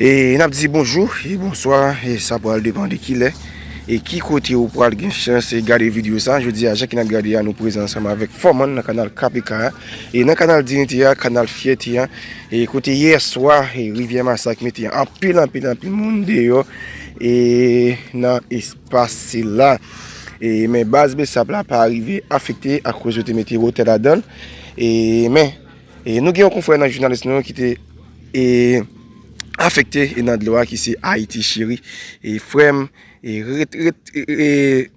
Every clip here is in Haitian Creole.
E nap di bonjou, e bonswa, e sa pral depan de kilè E ki kote ou pral gen chans e gade video sa Je di a, je ki nap gade a, nou prezant sa ma vek foman nan kanal KPK E nan kanal dinite a, kanal fyète a, e kote yè swa rivyè masak mete anpil anpil anpil moun deyò e nan espas sila. E men baz besap la pa rive afekte akouz yo te mete wotè la dan. E men, e nou gen yon konfrè nan jounalis nou ki te e afekte e nan dlo a ki se Ayiti cheri. E frèm, e ret ret e...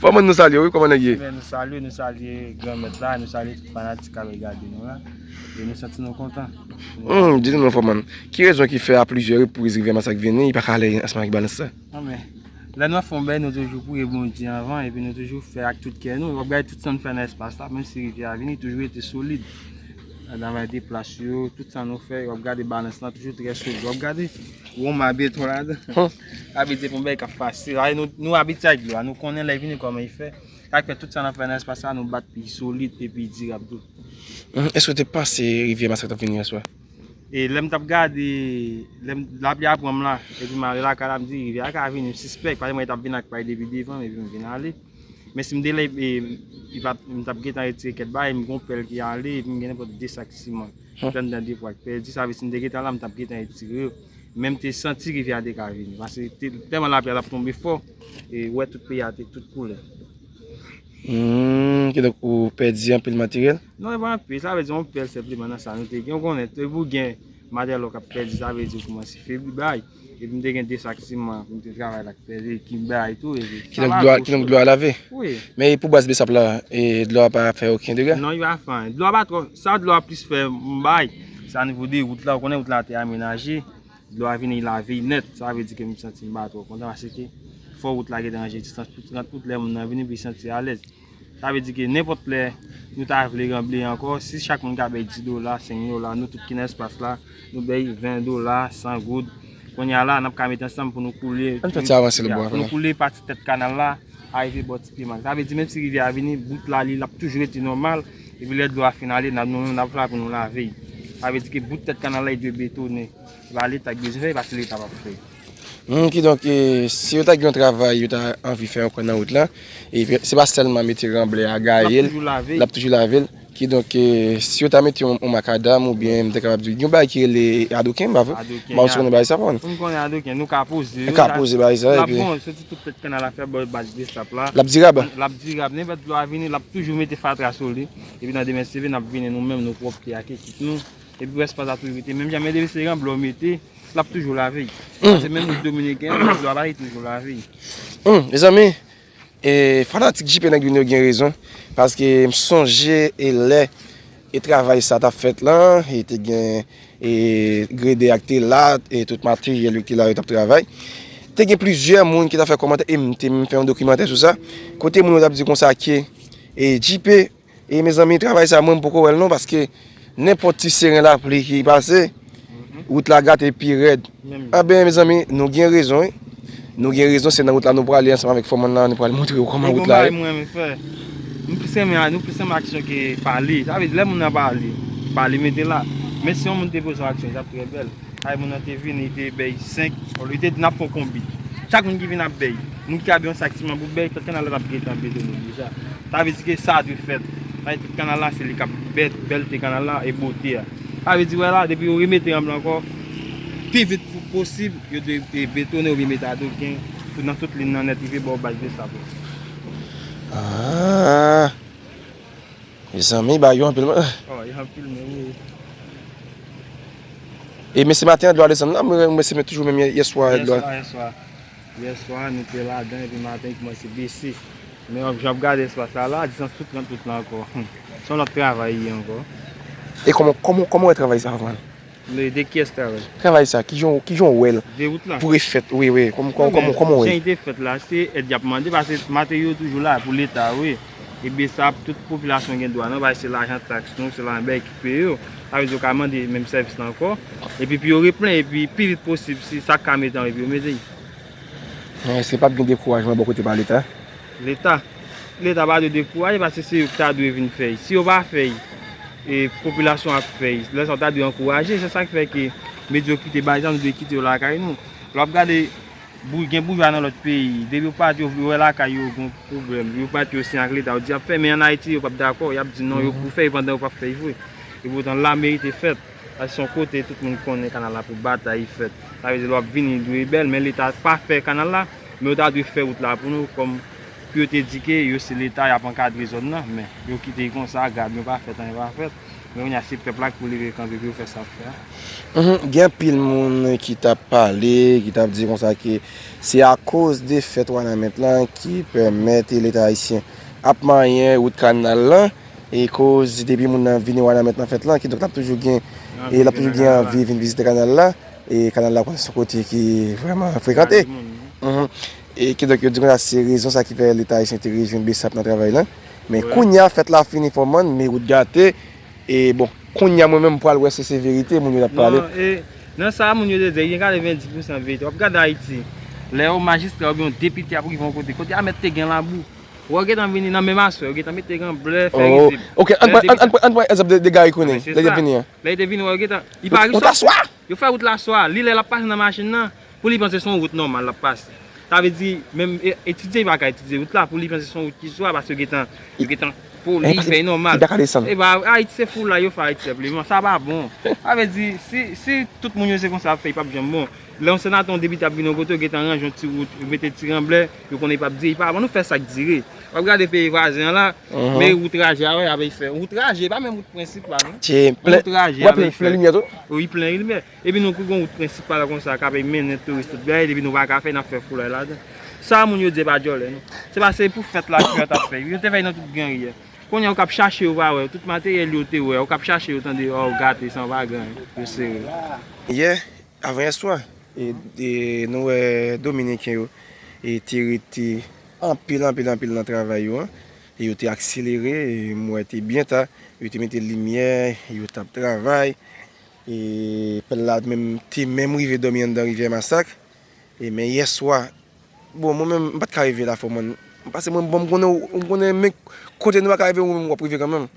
Fanm an nou salye wi koman nèg ye. Nou salye nou salye gran mèt la nou salye tout fanatik kap gade nou la e nou santi nou kontan. Humm di nou non fanm an ki rezon ki fè a plizyè repriz Rivière Masak vini li paka ale ansanm ak Balance la. Nan men lè nou ap fè yon bagay nou toujou priye Bondye anvan epi nou toujou fè ak tout kè nou wap gade tout sa nou fè nan espas la menm si Rivière a vini toujou rete solid nan travay de plas yo tout sa nou fè wap gade Balance la toujou trè solid wap gade Roma byen tou ladan. Sa vle di pou bèy kap fasil. Ae nou nou abitye ak dlo a. Nou konnen lè vini kòman li fè. Sak fè tout sa nan fè nan espas sa nou bat pi solid e pi dirab tou. Eske w te panse rivyè masak tap vini aswè? E lèm tap gade, lèm lapli a pranm la, epi mare lakay la mdi rivyè a ka vini, m sispèk, paske m wè li tap vin ak pay depi devanm epi m vin ale. Men si m te lèd e m t ap gentan retire kèk bagay, m gon pèl ki ale epi m gen nenpòt 2 sak siman ki pran anndan depo ak pèdi, sa vle di si m te gentan la m t ap gentan etire yo. Men m te santi rivyè a te ka vini pase tèlman lapli a t ap tonbe fò e ou wè tout peyi a te tout koule. Humm, kidonk ou pèdi anpil materyèl? Non e pa anpil, sa vle di yon pèl senpleman nan sa nou te gen, ou konnen depi ou gen materyèl ou ka pèdi sa vle di ou koumanse febli bagay. Epi m te gen 2 sak siman pou m te travay la ki pèse ki m bay tou epi. Ki donk dlo a ki donk dlo a lave? Wi. Men e pou baz besap la e dlo a pa fè oken dega? Non li pa fè anyen. Dlo a pa twò sa dlo a plis fè m bay se anivo de wout la ou konnen wout la te amenaje dlo a vini lave l nèt sa vle di ke m santi m pa twò kontan paske fò wout la gentan ranje distans pou 30 wout lè moun nan vini epi l santi alèz. Sa vle di ke nenpòt lè nou ta vle ranble ankò, si chak moun ka bay 10 dola, 5 dola, nou tout ki nan espas la, nou bay 20 dola, 100 goud, kounye a la, n ap ka mete ansanm pou nou koule, pou nou koule pati tèt kanal la, arive bò ti piman. Sa vle di menm si rivyè a vini, bout la li, l ap toujou rete nòmal, epi lè dlo a fin ale, nou menm n ap la pou nou lave. Sa vle di ke bout tèt kanal la, li dwe betonnen. Se pa leta ki bezwen fè l, se pa ti leta k ap fè l. Humm kidonk si yo ta gen yon travay yo ta anvi fè ankò nan wout la e se pa sèlman mete ranblè a gaye l l ap toujou lave l kidonk si yo ta mete yon makadam oubyen m ta kapab di yon bagay ki rele adoken m pa vre m pa konn si ou konnen bagay sa pa m konnen adoken nou ka poze l ka poze bagay sa l ap bon soti tout tèt kannal la fè bò baz destap la l ap dirab l ap dirab nenpòt dlo a vini l ap toujou mete fatra sou li epi nan demen seve n ap vini nou menm nou pwòpte ak ekip nou Epi rès plat la tou rete menm jan men depi se ranblè ou mete lap toujou lave. Se menm rit dominiken an ranblè a li toujou lave. Humm mezanmi e fanatik JP nèg vin yo gen rezon paske m sonje e lè e travay sa tap fèt lan e te gen e gredè a ki te la e tout materyèl yo ki te la yo tap travay te gen plizyè moun ki ta fè kòmantè e m te menm fè yon dokimantè sou sa kote moun yo tap di konsa ke e JP E mezanmi travay sa mwen poko wèl non paske nenpòt ti seren lapli ki pase wout la gate pi rèd a ben mezanmi nou gen rezon wi nou gen rezon se nan wout la nou prale ansanm avèk fòmann lan nou pral montre yo kòman wout la ye. Mwen gen yon bagay mwen renmen fè nou plis renmen nou plis renmen aksyon ke pale sa vle di lè moun nan pale pale mete la men si yon moun te poze yon aksyon li tap trè bèl. Ay moun nan te vini li te bèy 5 li te di nap fon konbit chak moun ki vini ap bèy moun ki ap yon sak siman pou bèy tèt kanal la tap gentan betone deja sa vle di ke sa dwe fèt paske tèt kanal la se li kap bèt bèlte kanal la e bote a sa vle di wè la depi yo remete ranp lan ankò pi vit pou posib yo dwe betone oubyen mete adreken nan tout lin nan nèt rive bò baz de sab la. Mezanmi bagay yo anpil man. Oh yo ap filme wi. E mesye maten an dlo a desann la mwen wè se toujou menm yeswa a dlo a. Yeswa yeswa a nou te ladan epi maten li kòmanse bese. Men wap jan wap gade yeswa sa la disans tout lan tout lan ankò. Son lòt travay li ankò. E kòman wè travay sa a vre? Mwen ede kyes travay. Travay sa kijan ou kijan ou wèl. Dewout la. Pou e fèt wi wi kòman kòman ou wèl. Jan li te fèt la se èd yap mande pase materyo toujou la pou leta wi ebyen sa tout popilasyon gen dwa nan bay se lajan taks nou se lajan bèy ki peye yo sa vle di yo ka mande menm sèvis la ankò epi pou yo replen epi pi vit posib si sa ka mete anvi pou yo mete. Eske pap gen dekourajman bò kote pa leta? Leta? Leta pa dwe dekouraje paske se yo ki ta dwe vin fèy. Si yo pa fèy, e popilasyon ap fèy. Lè sa yo ta dwe ankouraje. Se sa ki fè ke medyokrite bay jan nou dwe kite yo lakay nou. Lò ap gade gen boujwa nan lòt peyi. Depi yo pati yo wè lakay yo gen pwoblèm. Yo pati yo siyen ak leta. Yo di y ap fè men an Ayiti yo pap dakò. Y ap di non yo pou fèy pandan yo pap fèy vre. Epoutan la merite fèt. Sa se yon kote tout moun konnen kanal la pou batay fèt. Sa vle di lè wap vini li dwe bèl men leta pa fè kanal la men yo ta dwe fè wout la pou nou kòm pou yo te di ke yo se leta yap ankadre zòn nan men yo kite konsa gad nou pa fèt anyen pa fèt men kounye a se pèp la ki pou leve kanpe pou yo fè sa yap fè a. Gen anpil moun ki tap pale ki tap di konsa ke se akoz defèt wanament lan ki pèmèt leta ayisyen ap manyen wout kanal lan E koz depi moun nan vini Wanament nan fèt lan, kidonk l ap toujou gen e l ap toujou gen anvi vin vizite kanal la. E kanal la ou konnen se yon kote ki vrèman frekante. E kidonk yo di konsa se rezon sa ki fè Leta ayisyen te rejwenn bsap nan travay lan. Men kounya fèt la fini fò man, men wout gate. E bon, kounya mwen menm m pral wè si se verite moun yo t ap pale. Non, e nan sa moun yo te di, gen 90 pousan verite. W ap gade Ayiti, lè yon majistra oubyen yon depite ap rive yon kote, kote a mèt te gen labou. Wè yo gentan vini nan menm aswè, yo gentan mete gen blè, fè rizib. Oh, ok, ann pran, ann pran, ann pran egzanp de Gary Conille, lè li te vini an. Lè li te vini wè yo gentan, li pa rive sou. Wout aswè! Yo fè wout la aswè a, li lè lap pase nan machin nan, pou li panse son wout nòmal lap pase. Sa vle di, menm etidye li pa ka etidye wout la, pou li panse son wout ki swa, paske yo gentan, yo gentan poli, fè li nòmal. Li pa ka desann. Epa, Ayiti se foulay yo fè Ayiti senpleman, sa pa bon. Sa vle di, si, si tout moun yo se konsa yap fè li pap janm bon. Lè yon senatè, yon depite ap vini yon kote yo gentan ranje yon ti wout, yo mete ti ranblè. Yo konnen pap dire, pa bannou fè sak dire. Wap gade peyi vwazen an la, me wout raje a wè ya vey fè. Wout raje, pa men wout prensip la non. Che, plen, wè plen, plen limye tou? Wi, plen limye. E pi nou kou goun wout prensip pala kon sa, ka vey men nen touris tout bèy, de pi nou va ka fè, nap fè foulay la dan. Sa moun yo di e pa djòlè non. Se pa se pou fèt la kouya tap fè. Yo te fèy nan tout gen ri ya. Kounye a ou kap chache yo va wè, tout materyèl yo te wè, ou kap chache yo tande, ou gate san va gen, yo se re. Ye. Avanyèswa, nou wè Dominiken yo te rete anpil, anpil, anpil nan travay yo an. E yo te akselere, m wè te byen ta. Yo te mete limyè, yo t ap travay. E pèp la menm te menm rive dòmi anndan Rivyè Masak. E men yèswa, bon mwen menm m pa t ka rive Lafò mòn. Pase mwen bon m konnen, m konnen men kote nou pa ka rive ou menm w ap rive kanmenm.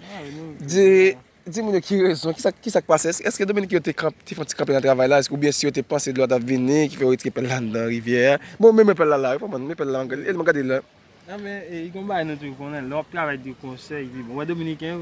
Di moun yo ki rezon, ki sa k pase, èske Dominik yo te fon ti kanpe nan travay la, oubyen si yo te panse dlo a t ap vini ki fè yo retire pèl la anndan rivyè a. Bon men mwen pèl la la wi, kòman men pèl la angle, elman gade l la. Nan men e gon bagay nou toujou konnen, lè w ap travay de konsèy epi bon, wè Dominiken yo,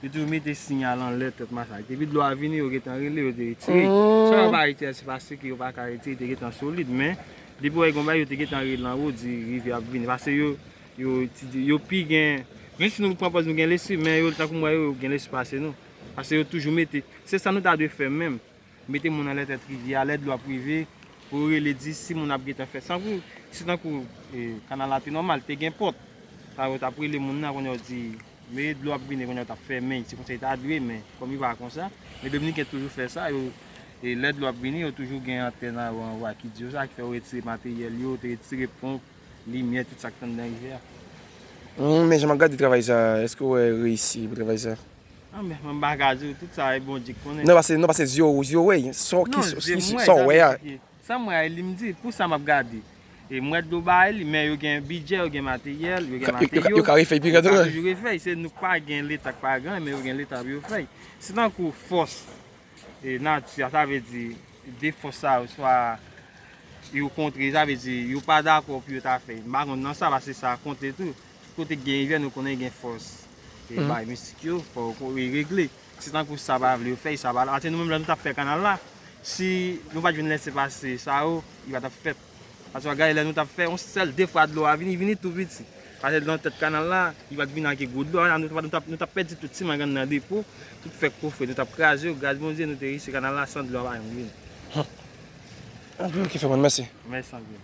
yo toujou mete siyal anlè tèt masak. Depi dlo a vini yo gentan rele, yo te retire. Swa yo pa retire se paske yo pa ka retire, te gentan solid men, depi wè gen yon bagay yo te gentan rele anwo di rivyè a ap vini. Pase yo, Yo ti di, yo pi gen, menm si nou pran pòz nou gen lesi, men yo tankou mwen yo, yo gen lesi pase nou. Pase yo toujou mete, se sa nou ta dwe fè menm. Mete moun anlè tèt rivyè a, lè dlo ap rive, pou yo rele di si moun ap gen tan fè. San kou, si tankou kanal la te nòmal, te gen pòt, sa yo tap rele moun nan, kounye a yo di, me dlo ap vini, kounye a yo tap fèmen, se konsa yo ta dwe, men kòm yo pa konsa, men Dominiken toujou fè sa, yo, lè dlo ap vini, yo toujou gen antèn a yo anwa ki di yo sa, ki fè yo retire materyèl yo, te retire ponp. Limyè tout sak t andan rivyè a. Humm men jan map gade travay sa eske wè reyisi pou travay sa. An men mwen pa ka diw tout sa e Bondye ki konnen. Non pase non pase zye w zye w wè sa ki sa w wè sa w wè a. Sam wè a e lim di pou sa map gade e m wè dlo ba e li men yo gen bidjè yo gen materyèl yo gen materyo yo ka refèy pi red yo ka toujou refèy se nou k pa gen leta k pa gen men yo gen leta pou yo fèy se tankou fòs e nati a, sa vle di 2 fòs sa yo swa yo kontre, sa vle di yo pa dakò pou yo ta fè, m pa konn nan sa paske sa konte tou, tout kote ki gen rivyè nou konnen gen fòs e bagay mistik yo, fò yo regle, se tankou sa pa vle yo fè e sa pa la, atè nou menm lè nou tap fè kanal la, si nou pat jwenn lese pase sa yo, li pa tap fèt. Aswè a gade lè nou tap fè yon sèl de fwa dlo a vini, li vini tou piti. Pase nan tèt kanal la, li pat vini ak yon gwo dlo, an nou tap nou tap pèdi tout ti mangan nan depo, tout fèk kou fre nou tap kraze yo, gras Bondye nou te riche kanal la san dlo a pa janm vini. Anpil ki fè mal, mèsi. Mèsi anpil.